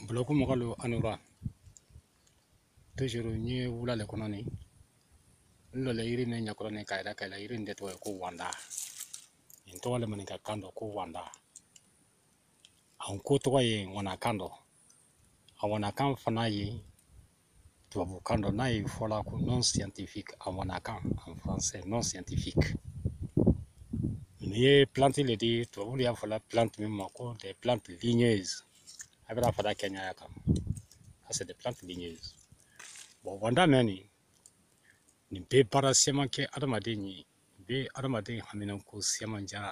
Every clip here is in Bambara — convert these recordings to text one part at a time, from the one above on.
bulɔku mɔgɔlu a ni wura toujours n ye wula le kɔnɔ nin n lɔlen yiri nin ɲakɔrɔ nin k'a yira k'a yira yiri nin de tɔgɔ ye ko wanda nin tɔgɔ le maninka kan dɔ ko wanda an ko tɔgɔ ye wanakan dɔ a wanakan fana ye tubabu kan dɔ n'a ye fɔla ko nom scientifique a wanakan en français nom scientifique n'i ye plante le di tubabulu y'a fɔla plante min ma ko des plantes ligneuses a bara fara kɛnɛya kan ça c'est des plantes ligneuses bon wanda mɛ nin nin bɛ baara siyaman kɛ adamaden ye bɛ adamaden haminanko siyaman jara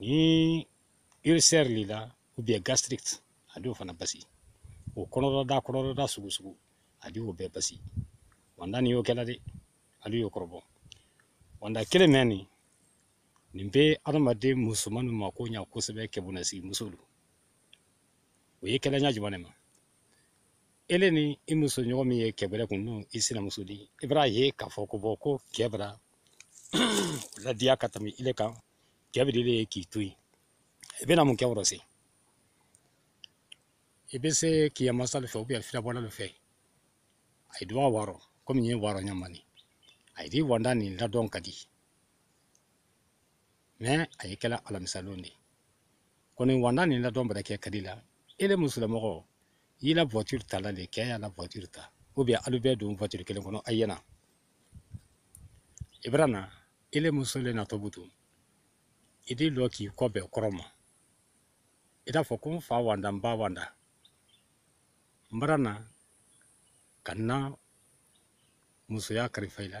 ni ulcère le i la ou bien gastrique a di o fana basi o kɔnɔdɔda kɔnɔdɔda sugu sugu a di o bɛɛ basi wanda ni y'o kɛla dɛ alu y'o kɔrɔbɔ wanda kelen mɛ nin nin bɛ adamaden musomannu mako ɲa kosɛbɛ kɛbonnasigi musolu o ye kɛla ɲa juman ne ma ele ni i muso ɲɔgɔn min ye kɛbɛrɛ kun n'o i sinamuso di i bara a ye k'a fɔ ko bɔ ko kɛ bara a ladiya ka tami ile kan kɛ bɛ ile ye k'i to yen i bɛna mun kɛ o rɔ se i bɛ se kiɲɛmansalu fɛ ou bien firabɔlalu fɛ ayi di wa waa rɔ komi n ye waa rɔ ɲa min ayi di wanda nin ladɔn kadi mais a ye kɛla alamisalon de kɔni wanda nin ladɔn bara kɛ kadi la ele musolamɔgɔ y'i la voiture tala le kɛ y'a la voiture ta ou bien alu bɛɛ don voiture kelen kɔnɔ ayi ye na i bara na ele muso le natɔ butu i d'i lɔ k'i kɔ bɛn kɔrɔn ma i d'a fɔ ko n fa wanda n ba wanda n bara na ka n na musoya karifa i la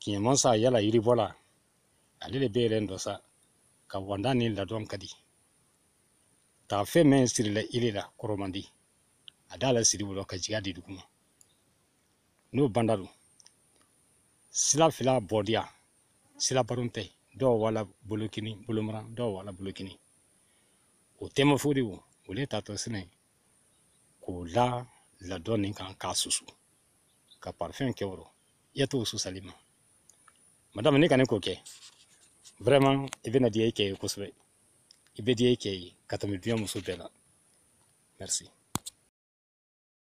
kiɲɛmansa yala yiribɔla ale le bɛ yɛlɛ dɔ sa ka wanda ni ladɔn kadi taafe mɛn sirila ile la kɔrɔman di a d'a lasiri o dɔ ka jigi a di dugu ma n'o banda don sila fila bɔdiya sila baron tɛ dɔ wala bolokini bolomaran dɔ wala bolokini o tɛma fo de o le tatɔ sinɛ k'o la ladɔn nin kan k'a susu ka parfum kɛ o rɔ i y'a to susali ma madame n'i ka nin ko kɛ vraiment i bɛna diya i kɛ ye kosɛbɛ i bɛ diya i kɛ ye ka tami duɲa muso bɛɛ la merci